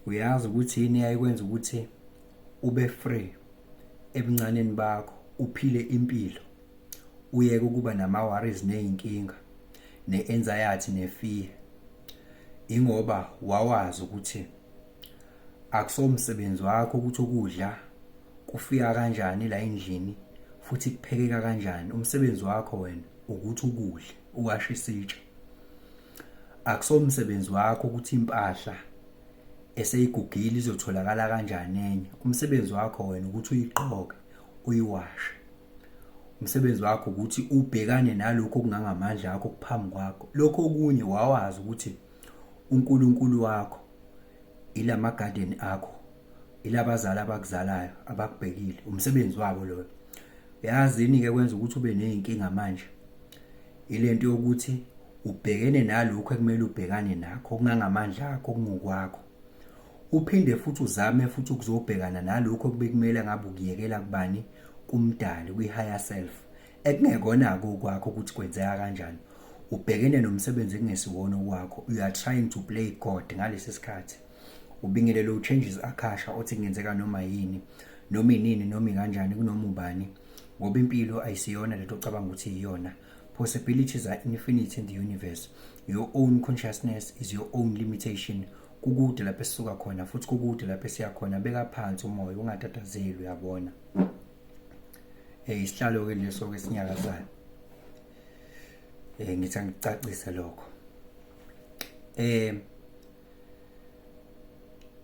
uyazi ukuthi yini yayikwenza ukuthi ube free ebuncaneni bakho uphile impilo uyeke ukuba nama-worries ney'nkinga ne-anxiety ne-fear ingoba wawazi ukuthi akusomsebenzi wakho ukuthi ukudla kufika kanjani la endlini futhi kuphekeka kanjani umsebenzi wakho wena ukuthi ukudle uwashe isitsha Akusomsebenzi wakho ukuthi impahla eseyigugile izotholakala kanjani enye. Umsebenzi wakho wena ukuthi uyiqoke, uyiwashe. Umsebenzi wakho ukuthi ubhekane nalokho okungangamandla akho kuphambi kwakho. Lokho okunye wawazi ukuthi uNkulunkulu wakho ilama garden akho ilabazali abakuzalayo abakubhekile umsebenzi wabo loyo yazini ke kwenza ukuthi ube nezinkinga manje ilento yokuthi ubhekene nalokho ekumele ubhekane nakho kungangamandla akho kungokwakho uphinde futhi uzame futhi ukuzobhekana nalokho kubekumele ngabe ukuyekela kubani kumdali kwi higher self ekungekona-ke okwakho ukuthi kwenzeka kanjani ubhekene nomsebenzi ekungesiwona okwakho you are trying to play god ngalesi sikhathi ubingelele uchanges akhasha othi kungenzeka noma yini noma inini noma ikanjani kunoma ubani ngoba impilo ayisiyona lento ocabanga ukuthi iyona possibilities are infinite in the universe your own consciousness is your own limitation kukude lapho esisuka khona futhi kukude lapho esiya khona beka phansi umoya ungatatazeli uyabona eh isihlalo ke leso ke sinyakazana eh ngithi angicacise lokho eh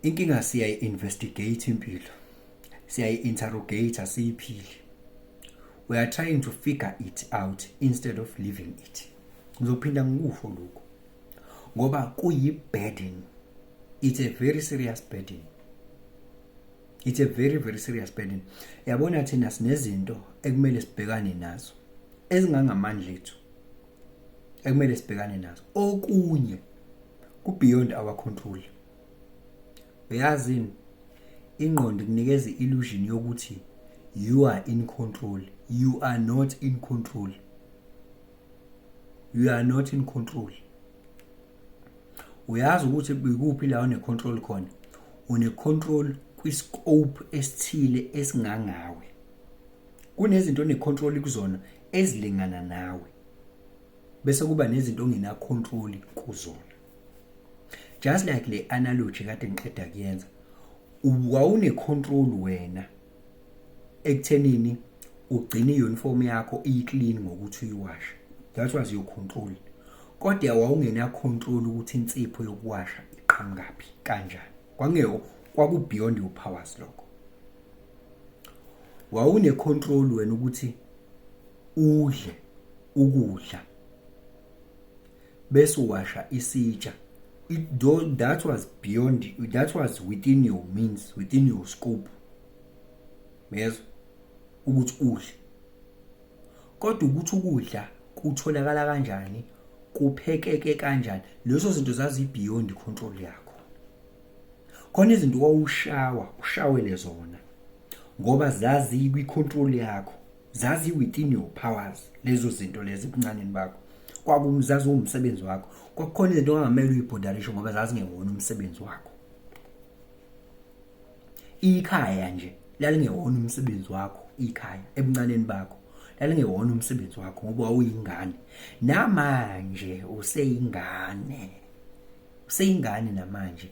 inkinga siyayi investigate impilo siyayi interrogate asiyiphili we are trying to figure it out instead of living it ngizophinda ngikusho lokho ngoba kuyi burden it's a very serious burden it's a very very serious burden yabona thina sinezinto ekumele sibhekane nazo ezingangamandla ethu ekumele sibhekane nazo okunye ku beyond our control uyazini ingqondo kunikeza illusion yokuthi you are in control you are not in control you are not in control uyazi ukuthi ikuphi la une-control khona une-control kwi-scope esithile esingangawe kunezinto one-control kuzona ezilingana nawe bese kuba nezinto ongena-control kuzona just like le analogy kade ngiqeda kuyenza wawune-control wena ekuthenini ugcine i-uniform yakho iyi-clean ngokuthi uyiwashe that was your control kodwa wawungenacontrol ukuthi insipho yokuwasha iqhamukaphi kanjani kwangeo kwaku-beyond your powers lokho wawunecontrol wena ukuthi udle ukudla besuwasha isitsha it, that was beyond that was within your means within your scope yezwa ukuthi udle kodwa ukuthi ukudla kutholakala kanjani kuphekeke kanjani lezo zinto zazi beyond control yakho khona izinto wawushawa ushawele zona ngoba zazi kwi control yakho zazi within your powers lezo zinto lezi kuncaneni bakho kwakumzazi umsebenzi wakho kwakukhona izinto ongamele uyibhodarishe ngoba zazingewona umsebenzi wakho ikhaya nje lalingewona umsebenzi wakho ikhaya ebuncaneni bakho lalingewona umsebenzi wakho ngoba wawuyingane namanje useyingane useyingane namanje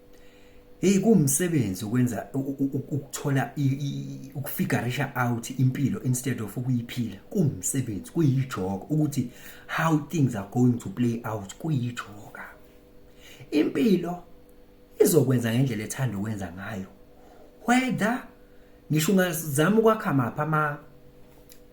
hey kuwumsebenzi ukwenza ukuthola ukufigarisha out impilo instead of ukuyiphila kuwumsebenzi kuyijoka ukuthi how things are going to play out kuyijoka impilo izokwenza ngendlela ethanda ukwenza ngayo whether ngisho ungazama ukwakha mapha ama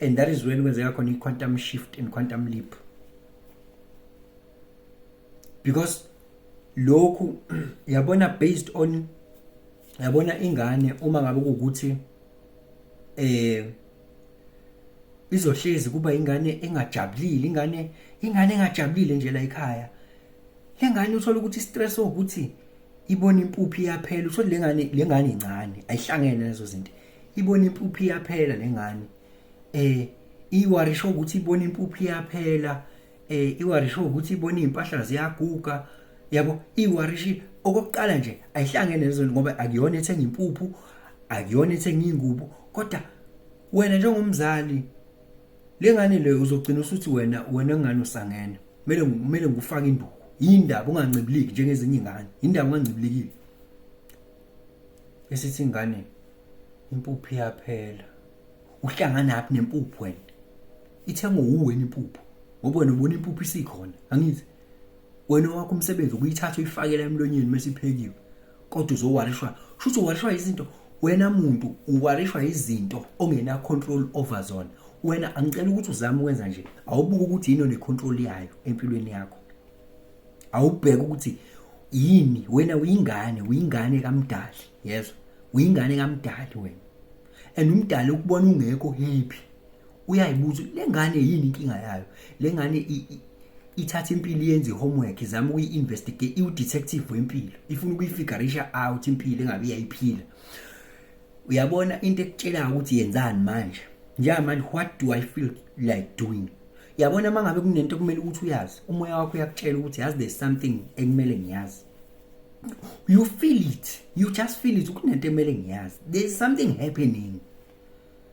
and that is when kwenzeka khona i-quantum shift and quantum leap because lokhu yabona based on yabona ingane uma ngabe ukuthi eh izohlezi kuba ingane engajabulile ingane ingane engajabulile nje la ekhaya lengane uthola ukuthi stress ukuthi ibona impuphi yaphela uthola lengane lengane incane ayihlangene lezo zinto ibona impuphu iyaphela lengane eh iwari show ukuthi ibona impuphu iyaphela eh iwari show ukuthi ibona izimpahla ziyaguga yabo iwari shi okokuqala nje ayihlangene lezo ngoba akuyona ethenga impuphu akuyona ethenga ingubo kodwa wena njengomzali lengane le uzogcina usuthi wena wena ngani usangena kumele kumele ngufake induku yindaba ungancibiliki njengezinye ingane yindaba ungancibilikile esithi ingane impuphu iyaphela uhlangana aphi nempuphu wena ithengo uwena impuphu ngoba wena ubona impuphu isikhona angithi wena wakho umsebenzi ukuyithatha uyifakela emlonyeni mase iphekiwe kodwa uzowarishwa shuthi uwarishwa izinto wena muntu uwarishwa izinto ongena control over zona wena angicela ukuthi uzame ukwenza nje awubuke ukuthi yini one control yayo empilweni yakho awubheke ukuthi yini wena uyingane uyingane kamdali yezwa uyingane kamdali wena and umdali ukubona ungekho hiphi uyayibuza le ngane yini inkinga yayo le ngane ithatha impilo yenze homework izama ukuyi-investigate iwu-detective wempilo ifuna ukuyifigarisha out impilo engabe iyayiphila uyabona into ekutshelayo ukuthi yenzani manje njengamanje what do i feel like doing yabona uma ngabe kunento okumele ukuthi uyazi umoya wakho uyakutshela ukuthi yazi there's something ekumele ngiyazi you feel it you just feel it kunento ekumele ngiyazi there's something happening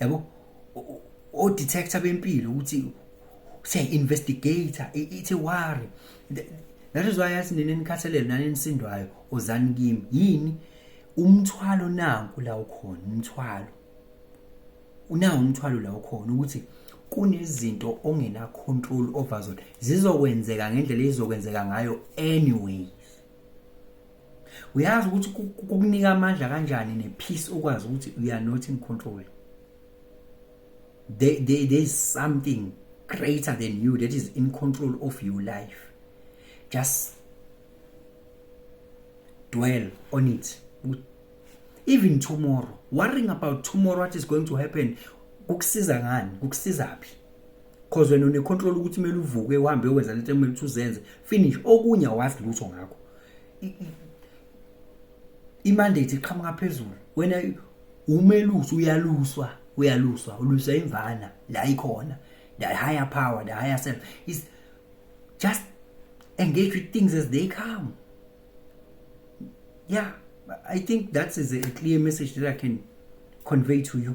yabo o detector bempilo ukuthi say investigator it's a worry that is why yathi nini nikhathalele nani nisindwayo ozani kimi yini umthwalo nanku la ukhona umthwalo unawo umthwalo la ukhona ukuthi kunezinto ongena control over zona zizokwenzeka ngendlela ezizokwenzeka ngayo anyway uyazi ukuthi kukunika amandla kanjani nepeace ukwazi ukuthi you are not in control there, there, there is something greater than you that is in control of your life just dwell on it even tomorrow worrying about tomorrow what is going to happen kukusiza ngani kukusiza phi cause wena unecontrol ukuthi kumele uvuke uhambe uyowenza lento ekumele ukuthi uzenze finish okunye awazi lutho ngakho imandate iqhamuka phezulu wena umelusi uyaluswa uyaluswa uluswa imvana la ikhona the higher power the higher self is just engage with things as they come yeah i think that is a clear message that i can convey to you